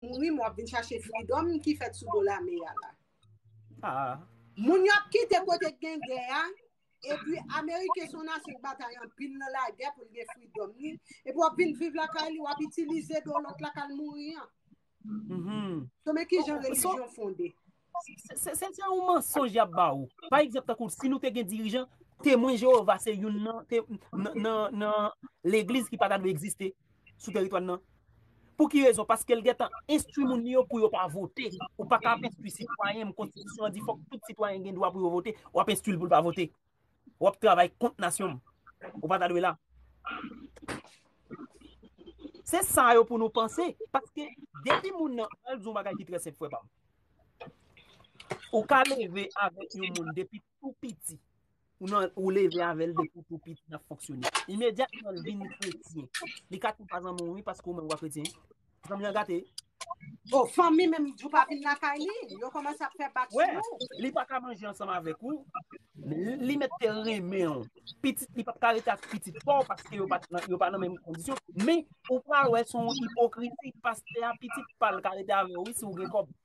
Mouri m wap vin chache freedom ki fèt sou do lame ya la. Moun yo ap kite kote k gen gè a, epi ameriken son nasyon k batay anpil nan lagè pou l gen freedom li, epi wap vin viv lakay li wap itilize do lòt la kal mouri an. So men kijan relijyon fonde. Se yon mansonj y ap ba ou. Pa egzanp tankou si nou te gen dirijan, Temwen Jewova se youn nan legliz ki pa ta dwe egziste sou teritwa n nan. Pou ki rezon? Paske l gentan enstwi moun li yo pou yo pa vote. Ou pa ka ap enstwi sitwayen m, konstitisyon an di fòk tout sitwayen gen dwa pou yo vote, w ap enstwi l pou l pa vote. Wap travay kont nasyon m. Ou pa ta dwe la. Se sa yo pou nou panse. Paske depi moun nan al di yon bagay ki trè senp frè pa m. Ou ka leve avèk yon moun depi tou piti. Ou leve avèl depi tou piti nan fonksyone. Imedyatman l vin kretyen. Li ka tou pa zanmi w wi paske ou menm ou pa kretyen. Fanmi an gate. Oh, fanmi menm jou pa vin lakay li, yo komanse ap fè bak sou ou. Wè, li pa ka manje ansanm avèk ou, li mèt te renmen ou, pitit li pa ka rete ak pitit pa ou paske yo pa nan menm kondisyon, men ou pral wè son ipokrizi, pastè a pitit pa l ka rete avè ou wi si ou gen kòb.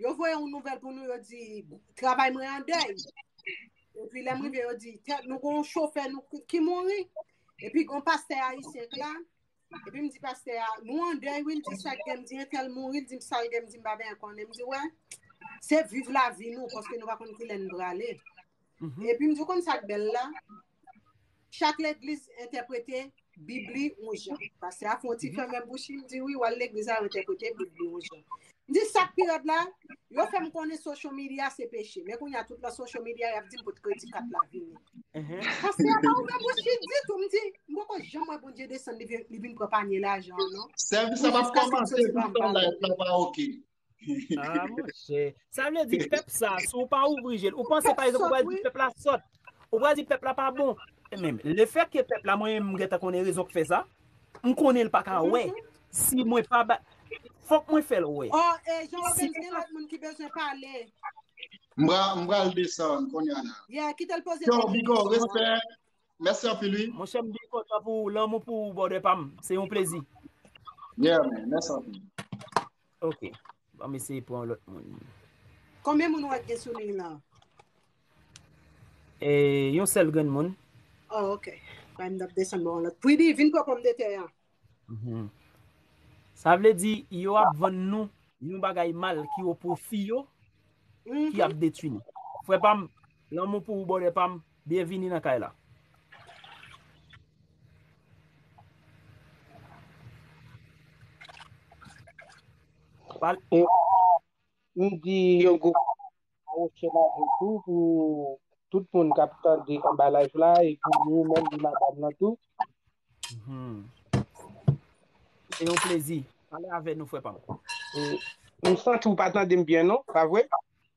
Yo voye yon nouvel pou nou yo di, travay mwen an dey. E pi lem rive yo di, nou kon chofe nou ki mouri. E pi kon paste a yisi ek la. E pi m di paste a, nou an dey win di sak gen di entel mouri. Di m sal gen di m baben an konen. M di we, se viv la vi nou, koske nou va kon kilè nou brale. E pi m di kon sak bel la, Chak legliz entèprete bib li yon jan. Pastè a fè yon ti fèmen bouch li, li di wi, wal legliz la yo entèprete bib li yon jan. M di sak pi rèd la, yo fèm konnen social media se peche, men kounya tout nan social media yap dim pot kredi kat la vini. Pastè a pa ouvè bouch li ditou, m di, m poko janm wè Bondye desann li vin pran panye lajan an non. Sèvis la pap kòmanse poutan live la pa ok. Ah mon chè, sa vle di pèp sa, si ou pa ouvri je l, ou panse pa ekzanp ou pral di pèp la sòt, ou pral di pèp la pa bon. Men, le fèt ke pèp la mwen menm m gentan konnen rezon ki fè sa, m konnen l pa ka wè, si mwen pa ba, fòk mwen fè l wè. Oh, e Jean Robens gen lòt moun ki bezwen pale. M pral desann konnya la. Yeah, kite l poze Yo, premye Bigo, kesyon an. respè. Mèsi anpil wi. Mon chè m byen kontan pou lanmou pou ou brother pa m. Se yon plezi. Yeah man, mèsi anpil. Ok, an m eseye pran yon lòt moun. Konbyen moun wè k gen sou liy lan? E, yon sèl grenn moun. Oh, ok. Bay m dap desann bò yon lòt. Pwidi, vin pran pòmdetè an. Mh. Sa vle di, yo ap vann nou yon bagay mal ki o pwofi yo, ki Mh. ap detwi nou. Frè pa m, lanmou pou ou bòdè pa m. Byen vini nan kay la. M di yon gwo mèsi pou tout moun kap tande anba live la e pou ou menm di madam nan tou. Se yon plezi. Pale avè nou frè pa m. M santi ou pa tande m byen non, pa vre?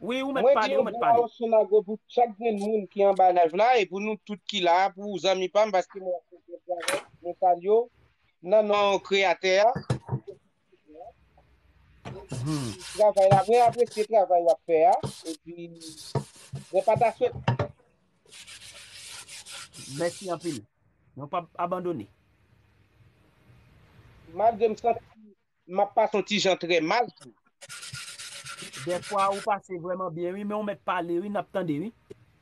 Wi ou mèt pale ou mèt pale. Mwen di yon gwo awosonago pou chak grenn moun ki anba live la e pou nou tout ki la a pou zanmi pam paske mwen ap fè yon travay mwen salyew nan non kreyatè a travay la mwen apresye travay wap fè a epi mwen pa ta swete Mèsi anpil. Nou pap abandone. Malgre m santi M ap pase yon ti jan trè mal tou. Dèfwa ou pase vrèman byen wi men ou mèt pale wi n ap tande wi.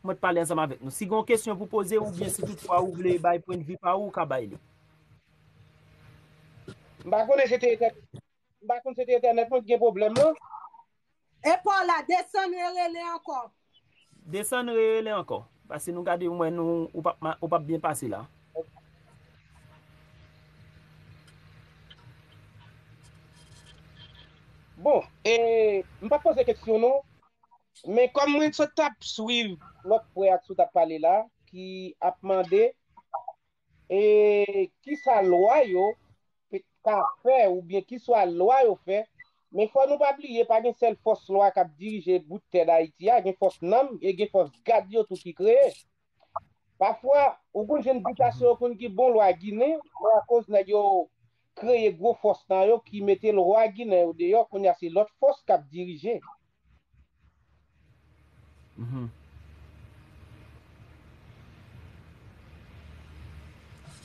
Ou mèt pale ansanm avèk nou. Si gen yon kesyon pou poze oubyen si tout fwa ou vle bay pwendvi pa ou, ou ka bay li. M pa konnen se te entènèt mwen ki gen pwoblèm lan. E paw la desann re rele ankò. Desann re rele ankò. Pase nou gade mwen nou ou pap byen pase la. Bon e m pap poze keksyon non. Men kòm mwen sot tap swiv lòt frè ak sou tap pale la ki ap mande. E ki sa lwa yo ka fè oubyen ki swa lwa yo fè, men fò nou pa bliye pa gen sèl fòs lwa k ap dirije bout tè Dayiti a, gen fòs nanm e gen fòs gad yo tou ki kreye. Pafwa, ou konn jwenn bitasyon yo konn ki bon lwa ginen, men akoz nèg yo kreye gwo fòs nan yo ki mete lwa ginen yo deyò, kounye a se lòt fòs k ap dirije.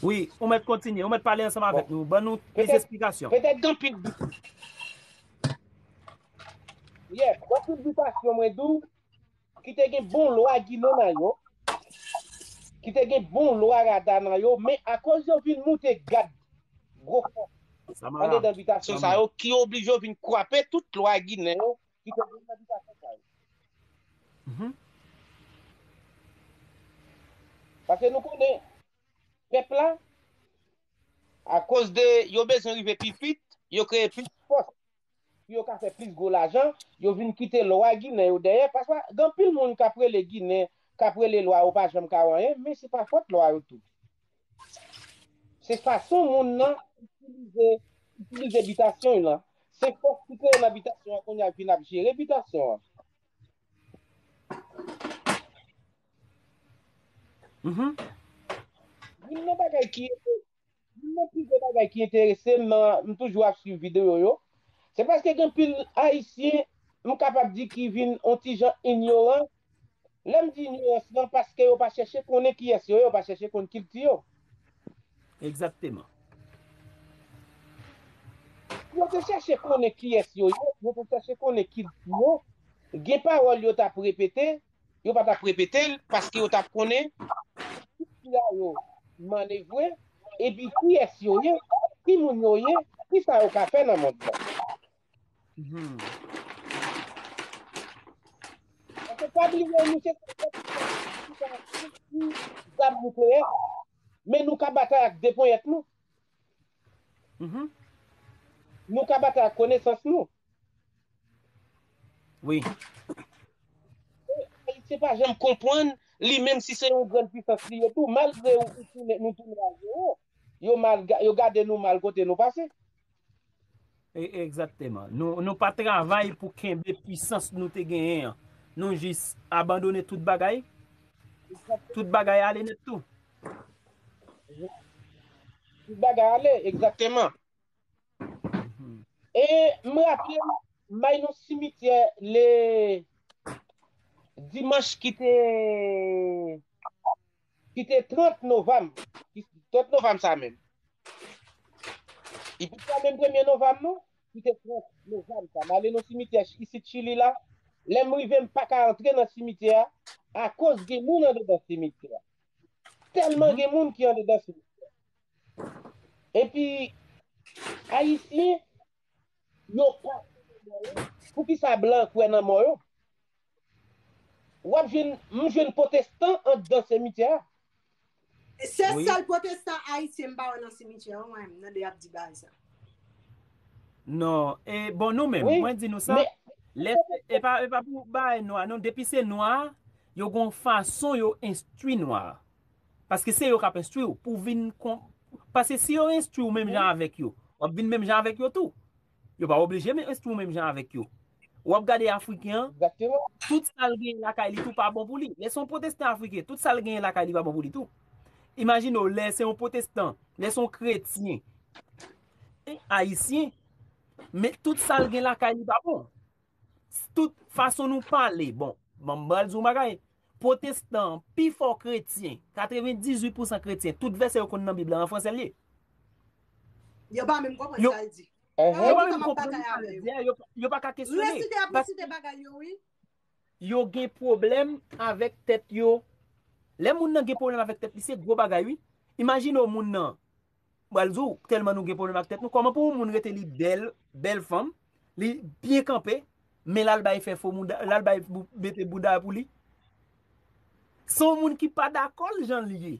Wi, ou mèt kontinye, ou mèt pale ansanm avèk nou, ban nou plis esplikasyon. Petèt gen pil bi. Yè, wè pil bitasyon mwen di w, ki te gen bon lwa Ginen nan yo, ki te gen bon lwa Rada nan yo, men akoz yo vin moute gad. gwo fòs andedan bitasyon sa yo ki oblije yo vin kwape tout lwa ginen yo ki te gen nan bitasyon sa yo. Paske nou konnen, pèp la, akoz de yo bezwen rive pi vit, yo kreye plis fòs. pou yo ka fè plis gwo lajan, yo vin kite lwa ginen yo dèyè, paswa gen anpil moun k ap rele ginen, k ap rele lwa yo pa janm ka wè anyen, men se pa fòt lwa yo tou. Se fason moun nan itilize, itilize bitasyon l lan. Se fòs ki kreye nan bitasyon an kounya k vin ap jere bitasyon an. Youn nan bagay ki ede Youn nan pi gwo bagay ki enterese m nan m toujou ap swiv videyo yo, se paske gen anpil Ayisyen m kapab di ki vin on ti jan inyoran. Lè m di inyorans lan paske yo pa chèche konnen kiyès yo ye, yo pa chèche konn kilti yo. Egzakteman. Si yo te chèche konnen kiyès yo ye, si yo te chèche konnen kilti yo, gen pawòl yo t ap repete, Yo pa t ap repete l paske yo t ap konnen ki sila yo manevre, epi kiyès yo ye, ki moun yo ye, ki sa yo ka fè nan mond lan. Paske pa bliye nou se sèl pèp ki ka konstwi zam nikleyè, men nou ka batay ak de ponyèt nou. Nou ka batay ak konesans nou. Wi. Ayisyen pa janm konpwann li menm si se yon grann pwisans li ye tou malgre nou tounen a zewo yo gade nou mal kote nou pase. Egzakteman. Nou pa travay pou kenbe pwisans nou te genyen an. Nou jis abandone tout bagay. Tout bagay ale nèt tou. Tout bagay ale, egzakteman. E m raple m, may nou simityè le dimanch ki te ki te 30 novanm, 30 novanm sa menm, epi se pa menm premye novanm non, ki te 30 novanm sa, m ale nan simityè isit Chili la, lè m rive m pa ka antre nan simityè a, akoz gen moun andedan simityè a, tèlman gen moun ki andedan simityè a. Epi, Ayisyen, Yo pa kwè nan mò yo. Poukisa blan kwè nan mò yo? Wap jwenn, m jwenn potestan andan semityè a. Se sèl potestan ayisyen m pa wè nan simityè an mwen menm, nan de yap di baay sa. Non, e bon nou menm, mwen di nou sa, lè se, e pa pou baay nwa non, depi se nwa, yo gon fason yo enstwi nwa. Paske se yo kap enstwi w pou vin kon paske si yo enstwi w menm jan avèk yo wap vin menm jan avèk yo tou yo pa oblije men enstwi w menm jan avèk yo wap gade afriken an tout sal genyen lakay li tou pa bon pou li lè se yon pwotestan afriken tout sal genyen lakay li pa bon pou li tou imajine w lè se yon pwotestan lè se yon kretyen ayisyen men tout sal gen lakay li pa bon. Tout fason nou pale bon banm bal di yon bagay pwotestan an pi fò kretyen 98 pousan kretyen tout vèsè yo konn nan bib la an fransè l ye Yo pa menm konprann sa l di yo pa menm konprann sa l di a yo pa ka kesyone resite ap resite bagay yo wi yo gen pwoblèm avèk tèt yo lè moun nan gen pwoblèm avèk tèt li se gwo bagay wi imajine w moun nan Pral di w telman nou gen pwoblèm ak tèt nou kòman pou yon moun rete li bèl, bèl fanm, li byen kanpe men lal bay fè fo mouda, lal bay mete bouda pou li. Se yon moun ki pa dakò l jan l ye.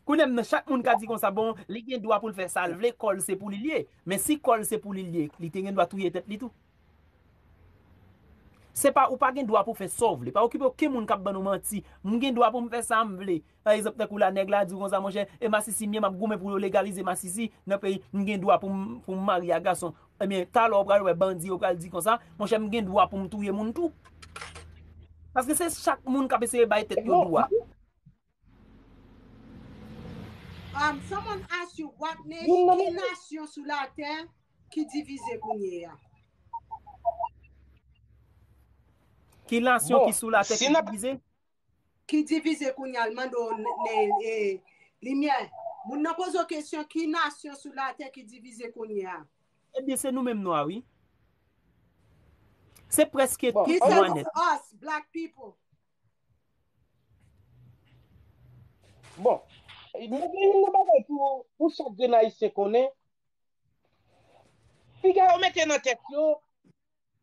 Kounye m nan chak moun ka di konsa bon li gen dwa pou l fè sa l vle kò l se pou li l ye men si kò l se pou li l ye li te gen dwa touye tèt li tou. Se pa ou pa gen dwa pou fè sa w vle. Pa okipe oken moun k ap ban nou manti. M gen dwa pou m fè sa m vle. Pa egzanp tankou la nèg la di w konsa monchè, e masisi m ye m ap goumen pou yo legalize masisi nan peyi m gen dwa pou m marye ak gason. Ebyen talè w pral wè bandi yo pral di konsa monchè m gen dwa pou m touye moun tou. Paske se chak moun k ap eseye bay tèt yo dwa. Um someone ask you what nation ki nasyon sou la tè ki divize kounye ya? Ki nasyon bon, ki sou la tè si ki divize? Ki divize kounye al mando ne e limyè. Moun nan pozo kesyon ki nasyon sou la tè ki divize kounye ya? Ebyen se nou menm nwa wi. Se preske bon, tout nwa net. He said us black people. Bon, mwen gen youn nan bagay pou chak grenn Ayisyen konnen, piga yo mete nan tèt yo,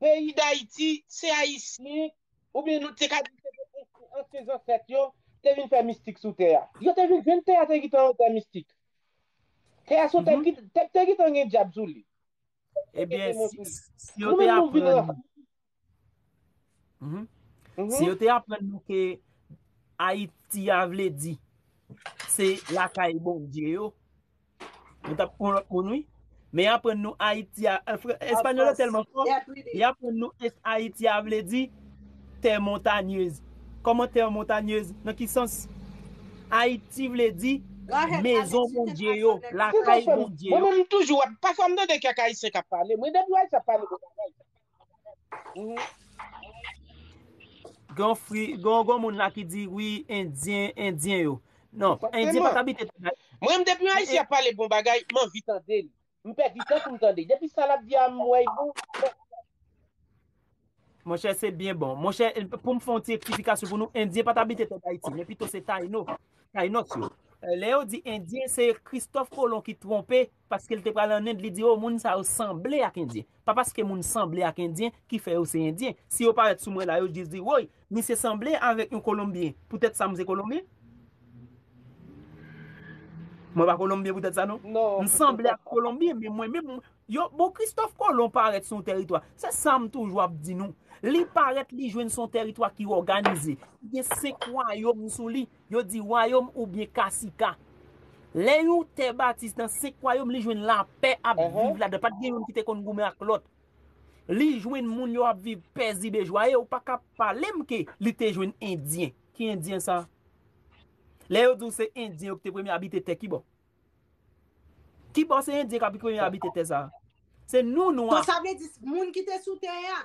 peyi Dayiti, se Ayisyen, oubyen nou te ka di se ansyen zansèt yo, te vin fè mistik sou tè a. Yo te vin jwenn tè a te gentan yon tè mistik. Tè a se yon tè ki te gentan gen dyab sou li. Ebyen, si yo te aprann. Mhm. Mhm. Si yo te aprann nou ke Ayiti a vle di, se lakay Bondye yo, nou tap pran lòt moun wi. Men aprann nou Ayiti a, espanyòl yo telman fò, y aprann nou Ayiti a vle di, tè montanyez. Kòman tè montanyez? Nan ki sans? Ayiti vle di, mezon Bondye yo, lakay Bondye yo. Mwen menm toujou, pafwa m tande kèk Ayisyen kap pale, mwen depi w Ayiti ap pale, mwen pa like. Gon moun la ki di wi endyen, endyen yo. Non, endyen pa tabite tout bagay. Mwen m depi yon ayisyen ap pale bon bagay, m anvi tande l. M pèdi tan pou m tande. Depi sa l ap di a m wè pou. Monchè se byen bon. Monchè pou m fè yon ti eksplikasyon pou nou, endyen pa tabite tèt Ayiti. Men pito se tayno, taynos yo. Lè yo di endyen se Christophe Colon ki twonpe Paske l te pral an End li di o moun sa yo sanble ak endyen. Pa paske moun sanble ak endyen ki fè yo se endyen. Si yo parèt sou mwen la yo jis di woy misye sanble avèk yon kolonbyen poutèt sa m se kolonbyen? Mwen pa kolonbyen poutèt sa non. M sanble ak kolonbyen men mwen menm yo bon kristòf kolon parèt sou yon tèritwa se sa m toujou ap di nou li parèt li jwenn sou yon tèritwa ki òganize ki gen 5 wayom sou li Yo di wayom oubyen kasika. Lè yon tè batize nan 5 wayom li jwenn lapè ap viv ladan pat gen youn ki te konn goumen ak lòt. Li jwenn moun yo ap viv pèzibe jwaye ou paka palem ke li te jwenn endyen. Ki endyen sa? Lè yo diw se endyen yo ki te premye abite tè kibò? Kibò se endyen kap premye abite tè sa? Se nou nwa. Donk sa vle di moun ki te sou tè a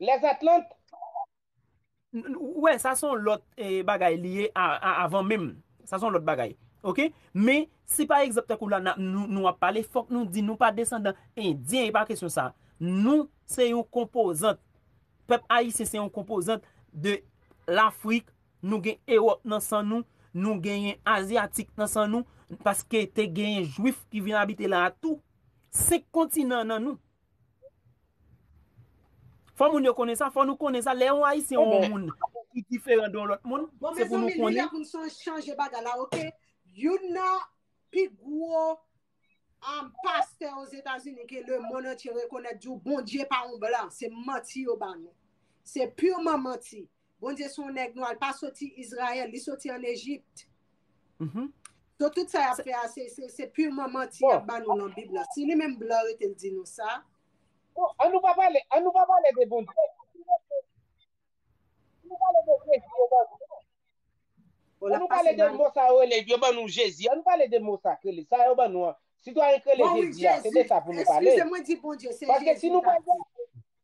Les Atlantes? Ou wè, sa son lòt bagay li ye avan menm. Sa son lòt bagay. Ok? Men, si pa egzanp tankou la nou ap pale, fòk nou di nou pa desandan Endyen, e pa kesyon sa. Nou se yon konpozant. Pèp Ayisyen se yon konpozant de Lafrik. Nou gen Ewòp nan san nou. Nou genyen Azyatik nan san nou. Paske te genyen Jwif ki vin abite la a tou. Senk kontinan nan nou. Fò moun yo konnen sa, fò nou konnen sa, lè yon ayisyen ou yon moun ki diferan de yon lòt moun, se pou nou konnen. Bon mezanmi, li lè pou nou chanje bagay la ok, youn nan pi gwo pastè ozetazini ke le mond antye rekonèt di w Bondye pa yon blan, se manti yo ba nou. Se purement manti. Bondye se yon nèg nwa, li pa soti Izrayèl, li soti an Ejipt. Don tout sa y ap fè a, se purman manti y ap ba nou nan Bib la. Si li menm blan yo te l di nou sa. Bon, an nou pa pale, an nou pa pale de Bondye. An nou pale de Jezi yo ban nou. An nou pale de mo sa yo rele, yo ban nou Jezi. An nou pale de mo sa k rele, sa yo ban nou an. Sitwayen k rele Jezi a, se de sa pou nou pale. Eskize mwen di Bondye, se Jezi m ta di.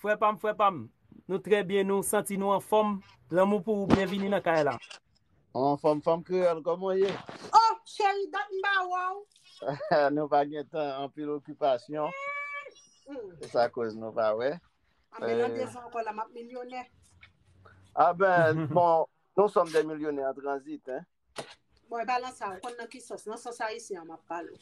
Frè pam frè pam Nou trè byen nou santi nou anfòm lanmou pou ou byenvini nan kay la. Ou anfòm fanm kreyòl kòman ou ye? Oh cheri dat m pa wè w. Nou pa gen tan anpil okipasyon se sa koz nou pa wè. Anben nan 2 zan ankò la map milyonè. Anben bon nou sòm de milyonè an tranzit hein. Bon, e pa lan sa, ou kon nan ki sos? Nan sos ayisyen an map pale.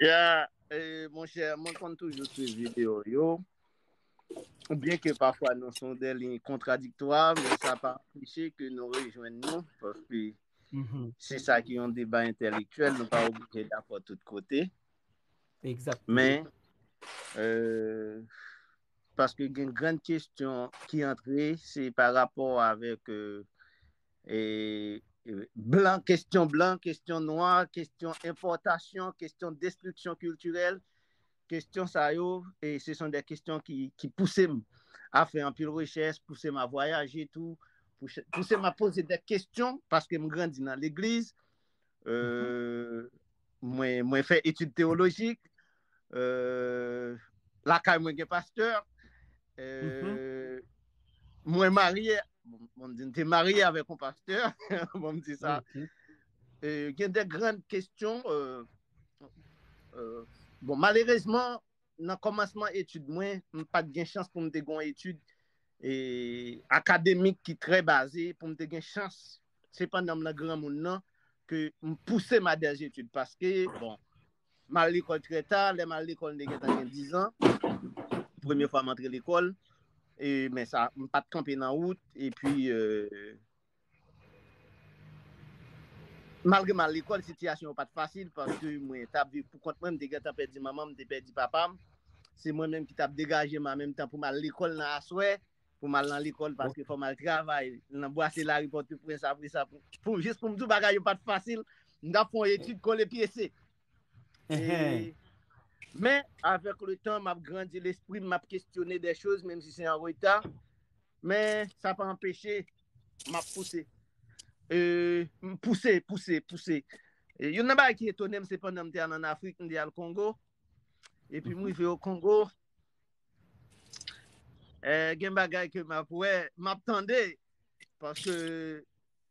Ya, e, mon chè, mwen kon toujou sou video yo. Bien ke pafwa nou son de lin kontradiktwa, men sa pa anpeche ke nou rejwen nou, paske mm-hmm. se sa ki yon deba entelektuel, nou pa oubite dapò tout kote. Exact. Men, e, euh, Paske gen grenn kestyon ki antre se pa rapò avèk blan, kestyon blan, kestyon nwa, kestyon enpòtasyon, kestyon destriksyon kiltirèl. Kestyon sa yo, se son de kestyon ki pouse m a fè anpil rechèch, pouse m a vwayaje tou, pouse m a poze de kestyon paske m grandi nan legliz, Mwen fè etid teolojik. Lakay mwen gen pastè. Mwen marye. Mwen di te marye avèk yon pastè. Mwen di sa. Gen de grand kestyon. Bon, malerezman, Nan kòmansman etid mwen, m pa t gen chans pou m te gen yon etid akademik ki trè baze, pou m te gen chans, se pandan m nan granmoun nan, ke m pouse m a dè zetid, paske, bon, m al lekòl trè ta, lè m al lekòl m te gen tan gen dizan, premye fwa m antre lekòl, men sa, m pa t kanpe nan wout, epi, Malgre m al lekòl, sitiyasyon yo pa t fasil paske mwen t ap viv pou kont mwen. M te gentan pèdi manman m, m te pèdi papa m. Se mwen menm ki t ap degaje m an menm tan pou m al lekòl nan aswè, pou m al nan lekòl paske fò m al travay nan bwase lari Pòtoprens. Apre sa, jis pou m di w bagay yo pa t fasil, m t ap fè yon etid kole pyese. Men, avèk le tan, m ap grandi lespri m, m ap kestyone de choz, menm si se an reta, men sa pa anpeche, m ap pouse. M pouse, pouse, pouse. Youn nan bagay ki etone m, se pandan m te al an Afrik, m te al Kongo, epi m rive o Kongo, gen bagay ke m ap wè, m ap tande, paske,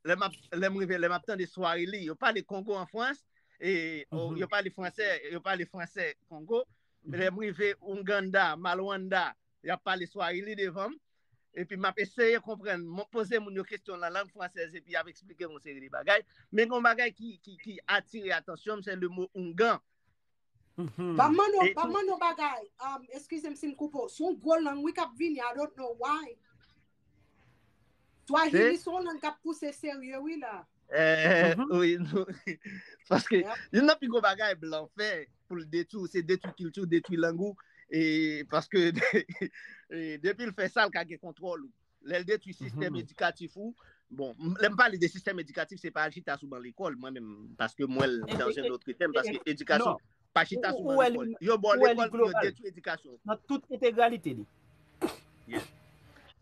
lè m ap, lè m rive, lè m ap tande Swahili, yo pale Kongo an Frans, e o, yo pale fransè, yo pale fransè Kongo, lè m rive Ouganda, Malwanda, y ap pale Swahili devan m, epi m ap eseye konprann, m poze moun yo kesyon nan lang fransèz epi y ap esplike m yon seri de bagay. Men gen yon bagay ki, ki, ki atire atansyon m, se le mo Oungan. Mhm. Ba man nou, ba man nou bagay. Um, excuse m si m koupo. Son gwo lang wi kap vini, I don't know why. Twa jini son lang kap pouse serye wi la. Eh, mhm. oui, nou. Paske, yon nan pi gwo bagay blan fè pou l detou, se detou kiltou, detou langou. E, paske, e, depi l fè sal ka gen kontrol ou. Lè l detwi sistèm edikatif ou, bon, lè m pale de sistèm edikatif, se pa al chita sou ban lekòl, mwen menm, paske m wè l dan jen lotre tèm, paske edikasyon, pa chita sou ban lekòl. Yo ba w lekòl pou yo detwi edikasyon ou. Nan tout entegralite li. Yes.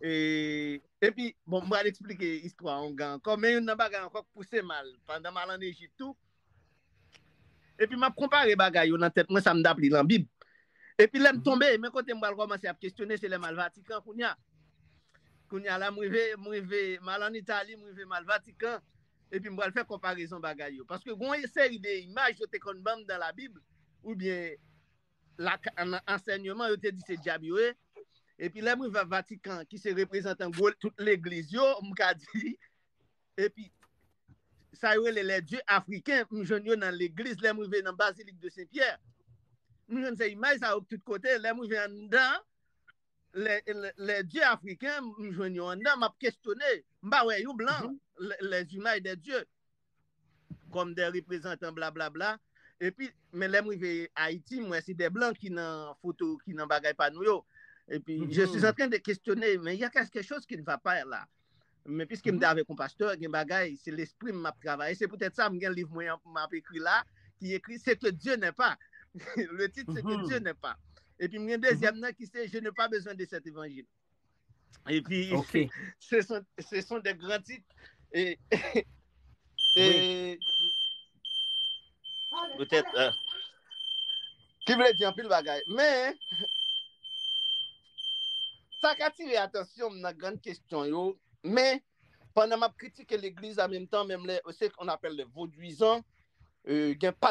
E, epi, bon, m pral eksplike istwa ongan ankò, men youn nan bagay ankò k pouse m al, pandan m al an Ejip tou, Epi m ap konpare bagay yo nan tèt mwen sa m t ap li nan Bib. Epi lè m tonbe, men kote m pral kòmanse ap kesyone, se lè m al Vatikan kounye a. Kounye a la m rive, m rive, m al ann Itali, m rive m al Vatikan, epi m pral fè konparezon bagay yo. Paske gen yon seri de imaj yo te konn ban m nan Labib, oubyen nan ansènyeman, yo te di se dyab yo ye. Epi lè m rive Vatikan, ki se reprezantan gwo tout legliz yo, m ka di, Epi sa yo rele les dieux africains m jwenn yo nan legliz lè m rive nan Basilique de Saint Pierre m jwenn se imaj sa yo tout kote lè m rive anndan les dieux africains m jwenn yo anndan m ap kesyone m pa wè yon blan les images des dieux kòm des reprezantan blablabla epi men lè m rive Ayiti m wè se des blancs ki nan foto ki nan bagay pa nou yo epi je suis en train de questionner men y a quelque chose qui ne va pas là. Men piske m te avèk yon pastè, gen bagay, se lespri m m ap travaye. Se poutèt sa m gen liv mwen an m ap ekri la, ki ekri Se ke Dye nè pa. Le tit Se ke Dye nè pa. Epi m gen dezyèm nan ki se Je ne pa bezwen de sèt evanjil. Epi se son de gran tit. E poutèt ki vle di anpil bagay. Men. Sa k atire atansyon m nan grann kesyon yo, men, pandan m ap kritike legliz a menm tan menm lè, se sa on appelle le vaudouisant, gen pa.